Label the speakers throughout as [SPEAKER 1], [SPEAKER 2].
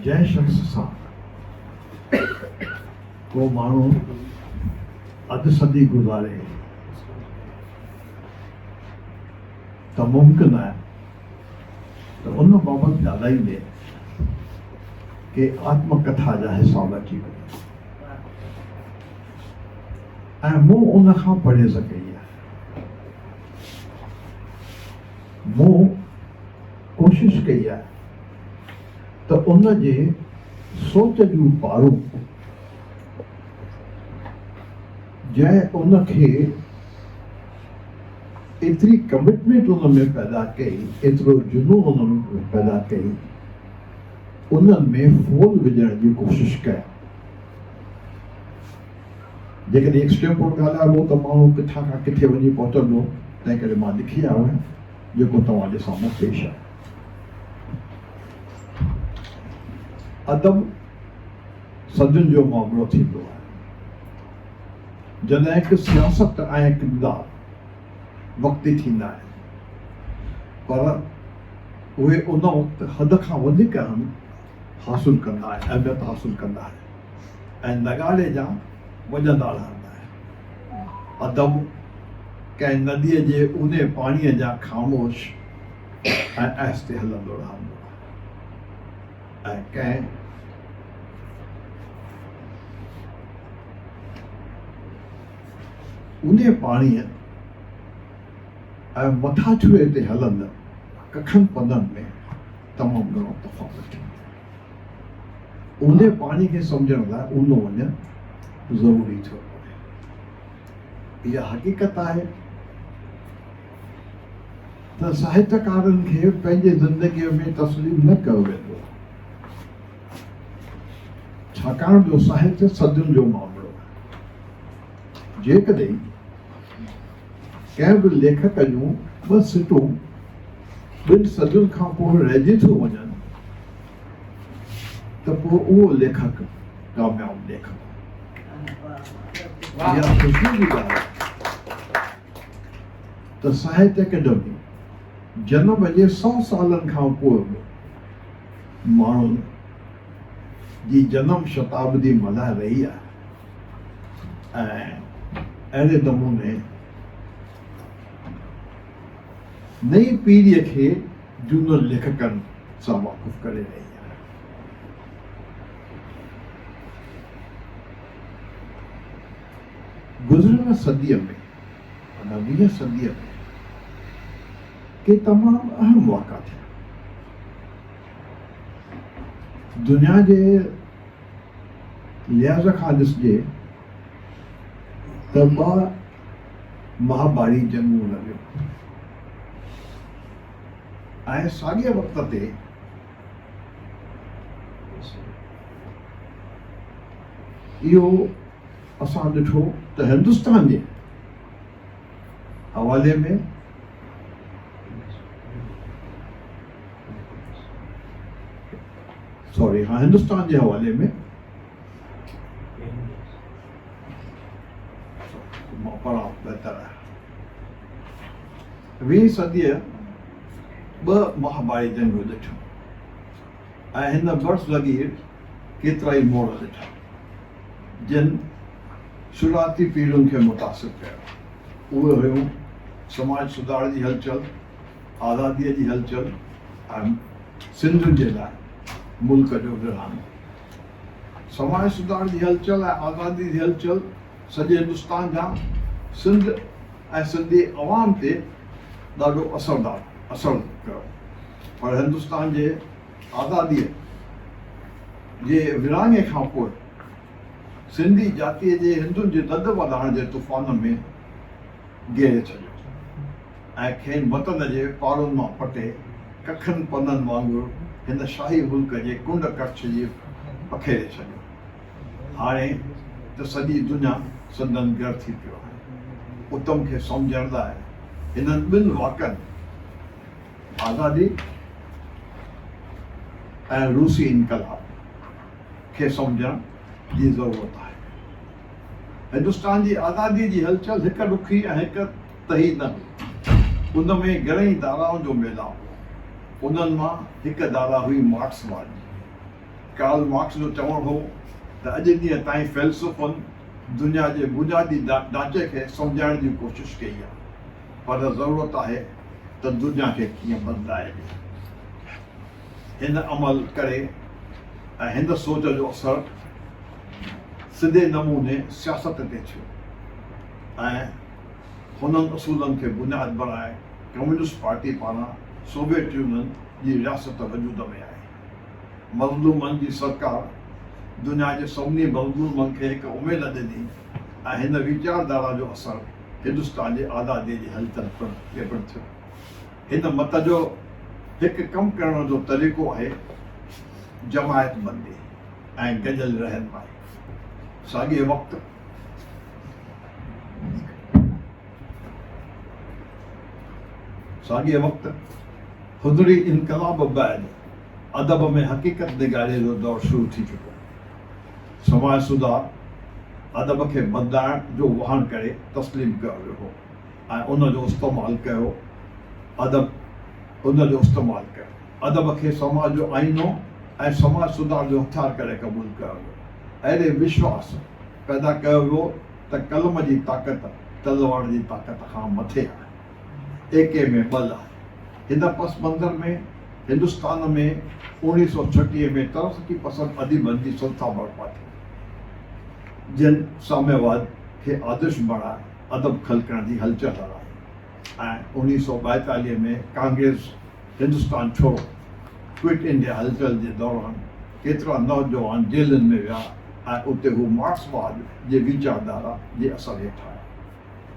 [SPEAKER 1] جنهن شخص سان ڪو ماڻهو اڌ صدي گذاري ته ممڪن آهي ته ان بابت ڳالهائيندي ڪي آتم ڪٿا جا حساب اچي وڃن ۽ مون ان کان پرهيز ڪئي آهي مون ڪوشش ڪئي آهي ته ان جي سوچ جون پاڙون جنهن ان کي ايتري ڪمٽمينٽ ان ۾ پيدا ڪئي ايترو جنون ان ۾ پيدا ڪئي انهن ۾ ڦول وجهڻ جي ڪوشش ڪيا جيڪڏهن ايڪسٽريم پوٽ ڳالهائبو ته ماڻهو ڪٿان کان ڪٿي وڃي پهچندو تنهن ڪري مان لکي آيو آهيان. جيڪو توهان جي سامهون پيش آهي. ادب سندن جو معاملو ٿيندو آهي. جڏهن ڪه سياست ۽ ڪردار وقتي ٿيندا آهن پر اهي ان وقت حد کان وڌيڪ اهم حاصل ڪندا آهن اهميت حاصل ڪندا آهن. ۽ نغاري جا وڄندا رهندا آهن. ادب ڪنهن نديء جي اونهي پاڻيء جيان خاموش ۽ آهستي هلندو رهندو آهي ۽ ڪنهن اونهي پاڻيء ۽ مٿاڇري تي هلندڙ ڪکن پدن ۾ تمام گهڻو تفاوت ٿيندو آهي. اونهي پاڻي کي سمجهڻ لاء اونو وڃڻ ضروري ٿيو پوي. اها حقيقت آهي ته ساهتڪارن کي پنهنجي زندگيء ۾ تسليم نه ڪيو ويندو آهي، ڇاڪاڻ جو ساهت صدين جو معاملو آهي. جيڪڏهن ڪنهن به ليکڪ جون ٻه سٽون ٻن صدين کان پوء رهجي ٿيون وڃن ته پوء اهو ليکڪ ڪامياب ليکڪ آهي. اها خوشيء جي ڳالهه آهي ته ساهت اڪيڊمي جنم جي سئو سالن کان پوء به ماڻهن جي جنم شتابدي ملهائي رهي آهي ۽ اهڙي نموني نئين پيڙهي کي جهونن ليکڪن سان واقف ڪري رهي آهي. گذريل صديء ۾ معنيٰ ويهين صديء ۾ ڪي تمام اهم واقعا ٿيا. دنيا جي لحاظ کان ڏسجي ته ٻه مهاڀاري جنگون لڳيون ۽ ساڳئي وقت تي اهو اسان ڏٺو ته هندستان جي حوالي ۾ سوري ها هندستان جي حوالي ۾ پڙهاء بهتر آهي ويهين صديء ٻه مهاڀاري جنگون ڏٺيون ۽ هن برس لڳي هيٺ ڪيترائي موڙ ڏٺا جن شروعاتي پيڙهين کي متاثر ڪيو اهي هيون سماج سڌار جي هلچل آزاديء جي هلچل ۽ سنڌ جي لاء ملڪ جو ورهاڱو. سماج سڌار جي هلچل ۽ آزاديء جي هلچل سڄي هندستان جيان سنڌ ۽ سنڌي عوام تي ڏاڍو اثردار اثر ڪيو پر هندستان جي آزاديء جي ورهاڱي کان پوء سنڌي جاتيء جي هندن جي لڏ وڏاڻ جي طوفان ۾ گيڙي ڇڏيو. ۽ کين وطن جي پاڙن مان پٽي ڪکن پنن وانگر هن شاهي ملڪ جي ڪنڊ ڪڙڇ جي پکيڙي ڇڏيو. هاڻي ته سڄي دنيا سندن گهر ٿي پيو آهي. اتم کي سمجهڻ لاء هنن ٻن واڪن آزادي ۽ روسي انقلاب کي سمجهڻ جي ضرورت آهي. هندستان جي آزادي جي هلچل هڪ رخي ۽ هڪ تهي نه هئي. ان ۾ گهڻيئي ڌارائن جو ميلاپ هو. انهن مان هڪ ڌارا هئي مارڪس واري. ڪارل مارڪس جو چوڻ هو ته اڄ ڏينهن تائين فيلسوفن دنيا جي بنيادي ڍانچي کي سمجهائڻ جي ڪوشش ڪئي آهي، پر ضرورت آهي ته دنيا کي ڪيئن بدلائبي. هن عمل ڪري ۽ هن سوچ جو اثر سڌي نموني سياست تي ٿيو ۽ هنن اصولن کي بنياد بڻائي ڪميونسٽ پارٽي پاران سوويٽ يونين جي رياست وجود ۾ آئي. مظلومن جي سرڪار دنيا جي سڀني مظلومن کي هڪ اميد ڏني ۽ هن ويچاردارا جو اثر هندستان جي آزاديء جي هلچل تي پڻ ٿيو. هن مت جو هڪ ڪم ڪرڻ جو طريقو آهي جماعت بندي ۽ گڏيل رهنمائي. ساڳئي وقت. ساڳئي وقت خضري انقلاب بعد ادب ۾ حقيقت نگاري جو دور شروع ٿي چڪو سماج سڌار ادب کي بدلائڻ جو واهڻ ڪري تسليم ڪيو ويو هو ۽ ان جو استعمال ڪيو ادب ان جو استعمال ڪيو ادب کي سماج جو آئينو ۽ سماج سڌار جو هٿيار ڪري قبول ڪيو ويو. اهڙي وشواس پيدا ڪيو ويو ته قلم جي طاقت تلوار جي طاقت کان مٿي آهي. ايڪي ۾ ٻه لاء. هن پس منظر ۾ هندستان ۾ اوڻيهه سؤ ڇٽيهه ۾ ترقي پسند اديبن جي سنٿا برپا ٿي، جن ساميواد کي آدرش بڻائي ادب خلقڻ جي هلچل هلائي. ۽ اوڻيھ سؤ ٻائيتاليھ ۾ ڪانگريس هندستان ڇوڙو، ڪوئٽ انڊيا هلچل جي دوران ڪيترا نوجوان جيلن ۾ ويا ۽ اتي هو مارڪسواد جي ويچاردارا جي اثر هيٺ آيا،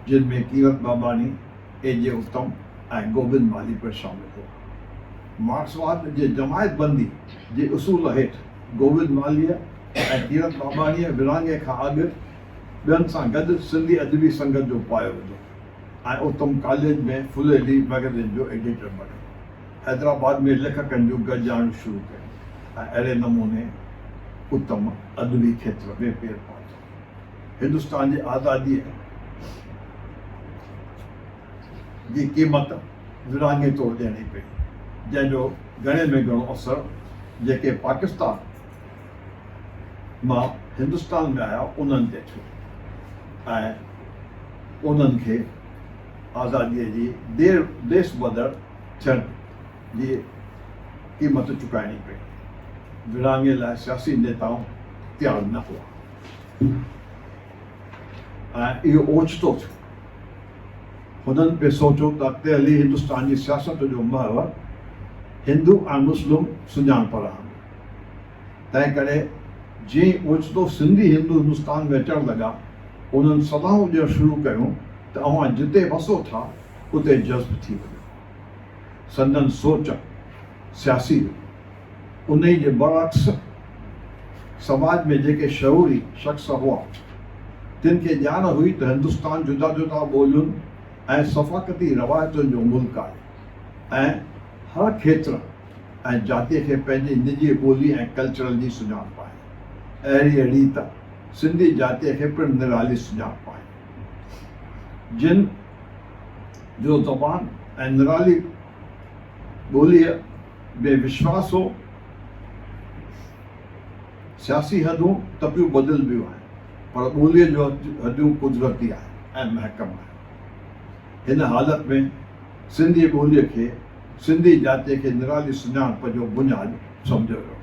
[SPEAKER 1] جن ۾ ڪيرت باباڻي، اي جي اتم ۽ گوبند مالهي پڻ شامل هئا. مارڪسواد جي جماعت بندي جي اصول هيٺ گوبند مالهيء ۽ ڪيرت باباڻيء ورهاڱي کان اڳ ٻين سان گڏ سنڌي ادبي سنگت جو پايو وڌو. ۽ اتم ڪاليج ۾ فليلي مئگزين جو ايڊيٽر بڻيو. حيدرآباد ۾ ليکڪن جون گڏجاڻيون شروع ڪيون ۽ اهڙي نموني اتم ادبي کيتر ۾ پير پاتو. هندستان جي آزاديء جي قيمت ورهاڱي طور ڏيڻي پئي، جنهن جو گهڻي ۾ گهڻو اثر جيڪي پاڪستان، مان هندستان ۾ آيا انهن تي ٿيو ۽ انهن کي آزاديء جي دير ديس بدر ٿيڻ جي قيمت چڪائڻي پئي. ورهاڱي لاء سياسي نيتائون تيار نه هئا ۽ اهو اوچتو ٿيو. هنن پي سوچيو ته ڪهلي هندستان جي سياست جو محور هندو ۽ مسلم سڃاڻپ رهندو. تنهنڪري جي اوچتو سنڌي هندو هندستان ۾ اچڻ لڳا، انهن صدائون ڏيڻ شروع ڪيون ته اوهان جتي وسو ٿا، اتي جذب ٿي وڃو. سندن سوچ سياسي هئي. انهيء جي برعڪس سماج ۾ جيڪي شعوري شخص هئا، تن کي ڄاڻ هئي ته هندستان جدا جدا ٻولين ۽ ثفاقتي روايتن جو ملڪ آهي ۽ هر کيتر، ۽ جاتيء کي پنهنجي نجي ٻولي ۽ ڪلچرل جي سڃاڻپ آهي. اهڙيء ريت سنڌي جاتيء کي پڻ نرالي سڃاڻپ آهي. جن جو زبان ۽ نرالي ٻوليء ۾ وشواس هو، سياسي حدون تپيون بدلبيون آهن، پر ٻوليء جون حدون قدرتي آهن ۽ محڪم آهن. هن حالت ۾. سنڌي ٻوليء کي سنڌي جاتيء کي نرالي سڃاڻپ جو بنياد سمجهيو ويو،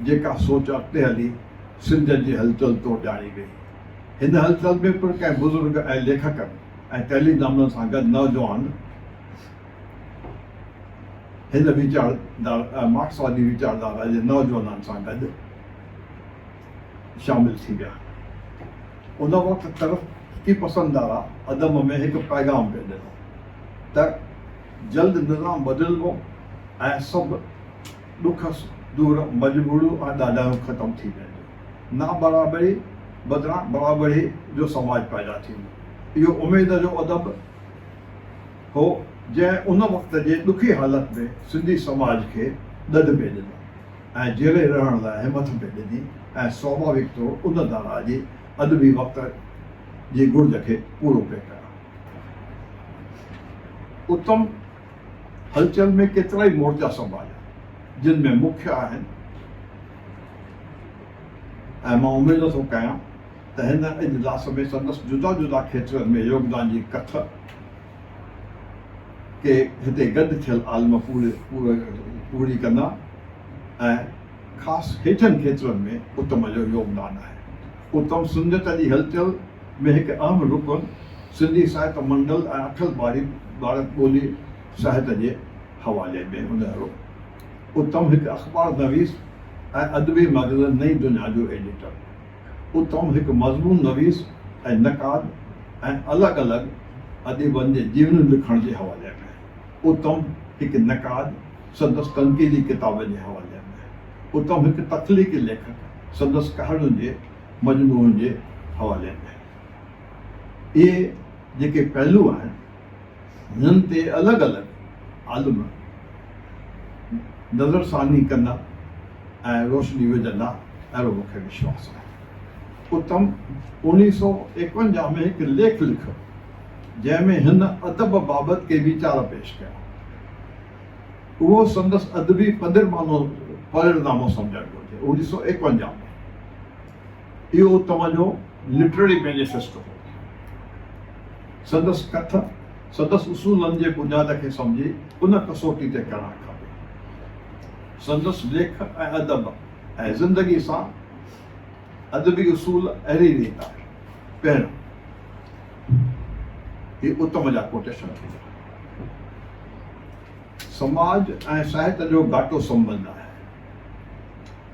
[SPEAKER 1] جيڪا سوچ اڳتي هلي سنڌين جي هلچل طور ڄاڻي ويئي. هن هلچل ۾ پڻ ڪئين بزرگ ۽ ليکڪن ۽ ڪئلي دامنن سان گڏ نوجوان هن ويچاردار مارڪسوادي ويچاردارا جي نوجوانن سان گڏ، شامل ٿي ويا. ان وقت ترقي پسند ڌارا عدم ۾ هڪ پيغام پئي ڏنو ته جلد نظام بدلبو ۽ سڀ ڏک دور مجبوريون ۽ ڏاڍايون ختم ٿي وينديون. نابرابري بدران برابري جو سماج پيدا ٿيندو. اهو اميد جو ادب هو جنهن ان وقت جي ڏکي حالت ۾ سنڌي سماج کي ڏڍ ۾ ڏنو. ۽ جيئري رهڻ لاء همٿ به ڏني ۽ سوڀاويڪ طور ان دارا جي ادبي وقت جي گهرج کي پورو پئي ڪيان. اتم هلچل ۾ ڪيترائي مورچا سنڀاليا، جن ۾ مکيه آهن ۽ مان اميد ٿو ڪيان ته هن اجلاس ۾ سندس جدا جدا کيترن ۾ يوگدان جي ڪٿ، ڪي هتي گڏ ٿيل عالم پورهئي ڪندا ۽ خاص هيٺين کيترن ۾ اتم جو يوگدان آهي. اتم سنڌيت جي هلچل ۾ هڪ اهم رڪن سنڌي ساهت منڊل ۽ اٺل ٻاري ٻارڪ ٻولي ساهت جي حوالي ۾ هونهارو اتم هڪ اخبار نويس ۽ ادبي مئگزين نئين دنيا جو ايڊيٽر، اتم هڪ مضمون نويس ۽ نقاد ۽ الڳ الڳ اديبن جي جيونيون لکڻ جي حوالي ۾، اتم هڪ نقاد سندس تنقيدي ڪتابن جي حوالي ۾، اتم هڪ تخليقي ليکڪ سندس ڪهاڻين جي مجموعن جي حوالي ۾. اهي جيڪي پهلو آهن، هنن تي الڳ الڳ عالم نظر ثاني ڪندا ۽ روشني وجهندا اهڙو مون کي وشواس آهي. اتم اوڻيهه سؤ ايڪونجاهه ۾ هڪ ليک لکيو جنهن ۾ هن ادب بابت ڪي ويچار پيش ڪيا. اهو سندس ادبي پڌرمانو پرڙنامو سمجهڻ گهرجي. اوڻيهه سؤ ايڪونجاهه ۾. اهو توهان جو لٽرري مينيفيسٽو هو. سندس ڪٿ سندس اصولن جي بنياد کي سمجهي ان ڪسوٽي تي ڪرڻ کپي. سندس ليک ۽ ادب ۽ زندگي سان ادبي اصول اهڙي ريت آهي. پهريون، هي اتم جا ڪوٽيشن ٿي ويا. سماج ۽ ساهت جو گهاٽو سنٻنڌ آهي.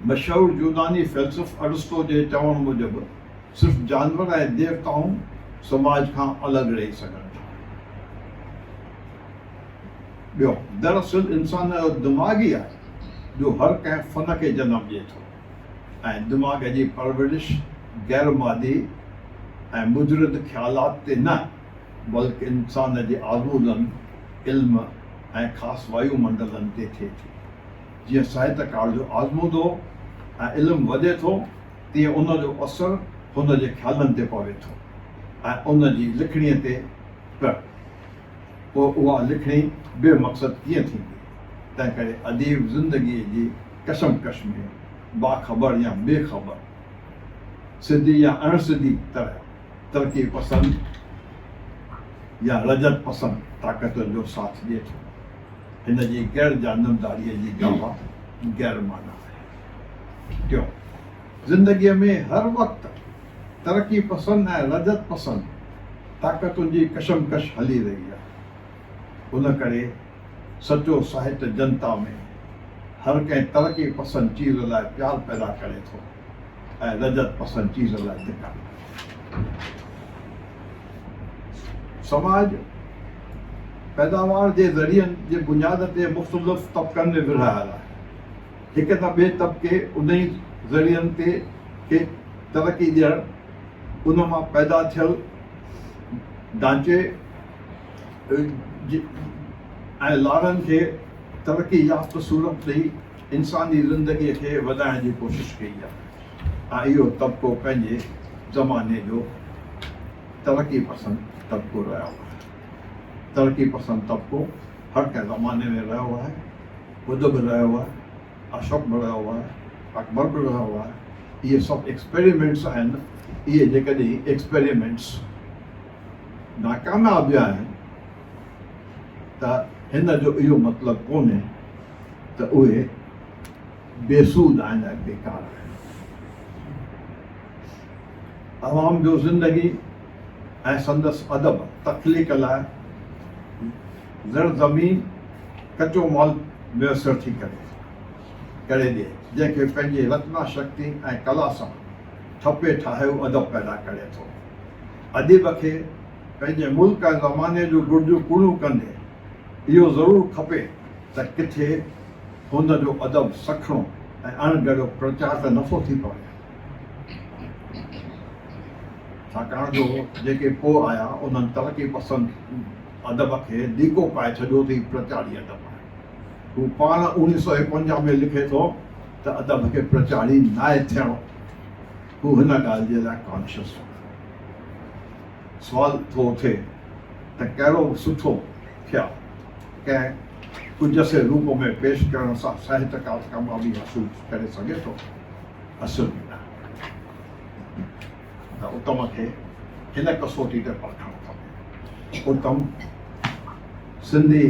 [SPEAKER 1] مشهور يوناني فيلسوف ارسطو جي چوڻ موجب صرف جانور ۽ ديوتائون سماج کان الڳ رهي سگهن ٿا. ٻيو، دراصل انسان جو دماغ ئي آهي جو هر ڪنهن فن کي جنم ڏئي ٿو ۽ دماغ جي پرورش غير مادي ۽ مجرد خيالات تي نه بلڪ انسان جي آزمودن، علم ۽ خاص وايو منڊلن تي ٿئي ٿي. جيئن ساهتڪار جو آزمودو ۽ علم وڌي ٿو، تيئن ان جو اثر هن جي خيالن تي پوي ٿو ۽ ان جي لکڻيء تي پڻ. پوء اها لکڻي بي مقصد ڪيئن ٿيندي؟ تنهنڪري اديب زندگيء جي ڪشمڪش ۾ باخبر يا بي خبر، سڌي يا اڻ سڌي طرح، ترقي پسند يا رجعت پسند طاقتن جو ساٿ ڏئي ٿو. هن جي غير جانبداريء جي گاهه غير معنيٰ آهي. ٽيون، زندگيء ۾ هر وقت ترقي پسند ۽ لذت پسند طاقتن جي ڪشمڪش هلي رهي آهي. ان ڪري سچو ساهت جنتا ۾ هر ڪنهن ترقي پسند چيز لاء پيار پيدا ڪري ٿو. ۽ لذت پسند چيزن لاء ڌڪا ڏيندا آهن. سماج پيداوار جي ذريعن جي بنياد تي مختلف طبقن ۾ ورهايل آهي. هڪ ته ٻئي طبقي انهي ذريعن تي کي ترقي ڏيڻ، ان مان پيدا ٿيل ڍانچي ۽ لارن کي ترقي يافته صورت ڏئي، انساني زندگيء کي وڌائڻ جي ڪوشش ڪئي آهي ۽ اهو طبقو پنهنجي زماني جو ترقي پسند طبقو رهيو آهي. ترقي پسند طبقو هر ڪنهن زماني ۾ رهيو آهي. ٻڌ به رهيو آهي، اشوڪ به رهيو آهي، اڪبر به رهيو آهي. اهي سڀ ايڪسپيريمينٽس آهن، اهي جيڪڏهن ايڪسپيريمينٽس ناڪامياب ويا آهن ته هن جو اهو مطلب ڪونهي ته اهي بي سود آهن ۽ بيڪار آهن. عوام جو زندگي ۽ سندس ادب تخليق لاء زر زمين ڪچو مال ميسر ٿي ڪري ڪري ڏي، جنهن کي پنهنجي رتنا شڪتي ۽ ڪلا سان ٺپي ٺاهيو ادب پيدا ڪري ٿو. اديب کي پنهنجي ملڪ ۽ زماني جون گهرجون پوريون ڪندي، اهو ضرور کپي ته ڪٿي هن جو ادب سکڻو ۽ اڻ جهڙو پرچار ته نٿو ٿي پوي، ڇاڪاڻ جو جيڪي پوء آيا انهن ترقي پسند ادب کي ڏيڪو پائي ڇڏيو ته هي پرچاري ادب آهي. هو پاڻ اوڻيهه سؤ ايڪونجاهه ۾ لکي ٿو ته ادب کي پرچاري ناهي ٿيڻو. هو هن ڳالهه جي لاء ڪانشس هو. سوال ٿو اٿي ته ڪهڙو سٺو ٿيا ڪنهن ڪجسي روپ ۾ پيش ڪرڻ سان ساهتڪار ڪاميابي حاصل ڪري سگهي ٿو؟ اصل ۾ نه ته اتم کي هن ڪسوٽي تي پرکڻ کپي. اتم سنڌي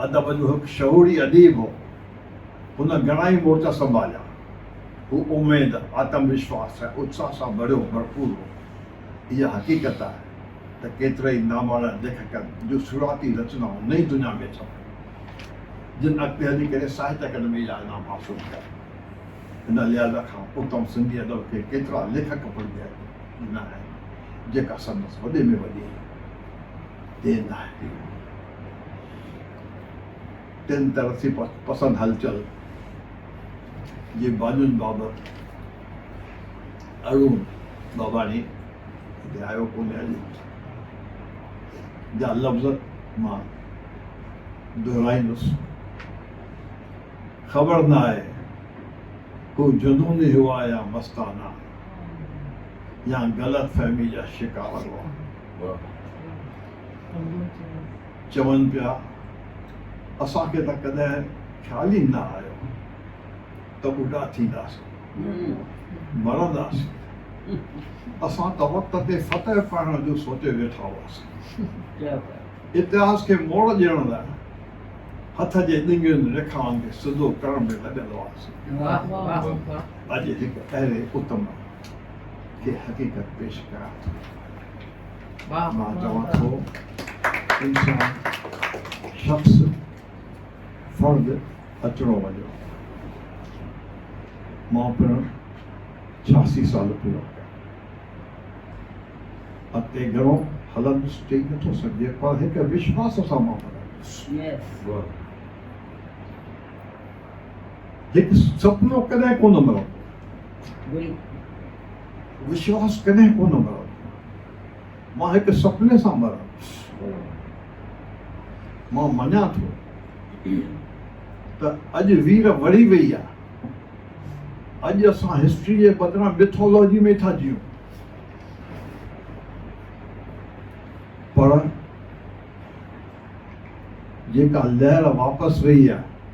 [SPEAKER 1] ادب جو هڪ شعوري اديب هو. هن گهڻا ئي مورچا سنڀاليا. هو اميد، آتم وشواس ۽ اتساهه سان ڀريو ڀرپور هو. اها حقيقت آهي ته ڪيترائي ناماڻا ليکڪن جون شروعاتي رچنائون نئين دنيا ۾ ڇپيون، جن اڳتي هلي ڪري ساهت اڪيڊمي جا انعام حاصل ڪيا. ان لحاظ کان اتم سنڌي ادب کي ڪيترا ليکڪ پڙهجي ڏنا آهن، جيڪا سندس وڏي ۾ وڏي دين آهي. تن ترقي پسند هلچل جي بانين بابت ارون باباڻي هتي آيو ڪونهي اڄ جا لفظ مان دهرائيندس خبر نه آهي هو جنوني هئا يا مستانه يا غلط فهمي جا شڪار هئا چون پيا، اسان کي ته ڪڏهن خيال ئي نه آيو ته ٻڍا ٿينداسين، مرنداسين، اسان ته وقت تي فتح پائڻ جو سوچي ويٺا هئاسين. اتهاس کي موڙ ڏيڻ لاء هٿ جي ڏنگين ريکائن کي سڌو ڪرڻ ۾ لڳل هئاسين. اڄ هڪ اهڙي اتم کي حقيقت پيش ڪيان ٿو. مان چوان ٿو انسان شخص فرد اچڻو وڃڻو مان پڻ ڇياسي سال پورا ڪيا اڳتي گهڻو هلندس چئي نٿو سگهجي پر هڪ وشواس سان مان مرايندس هڪ سپنو ڪڏهن ڪونه مرندو وشواس ڪڏهن ڪونه مرندو مان هڪ سپني سان مرندس مان مڃان ٿو ته اڄ وير وڙهي وئي آهي اڄ اسان هسٽري جي بدران مٿولوجي ۾ ٿا جيون پر جيڪا لهر واپس وئي آهي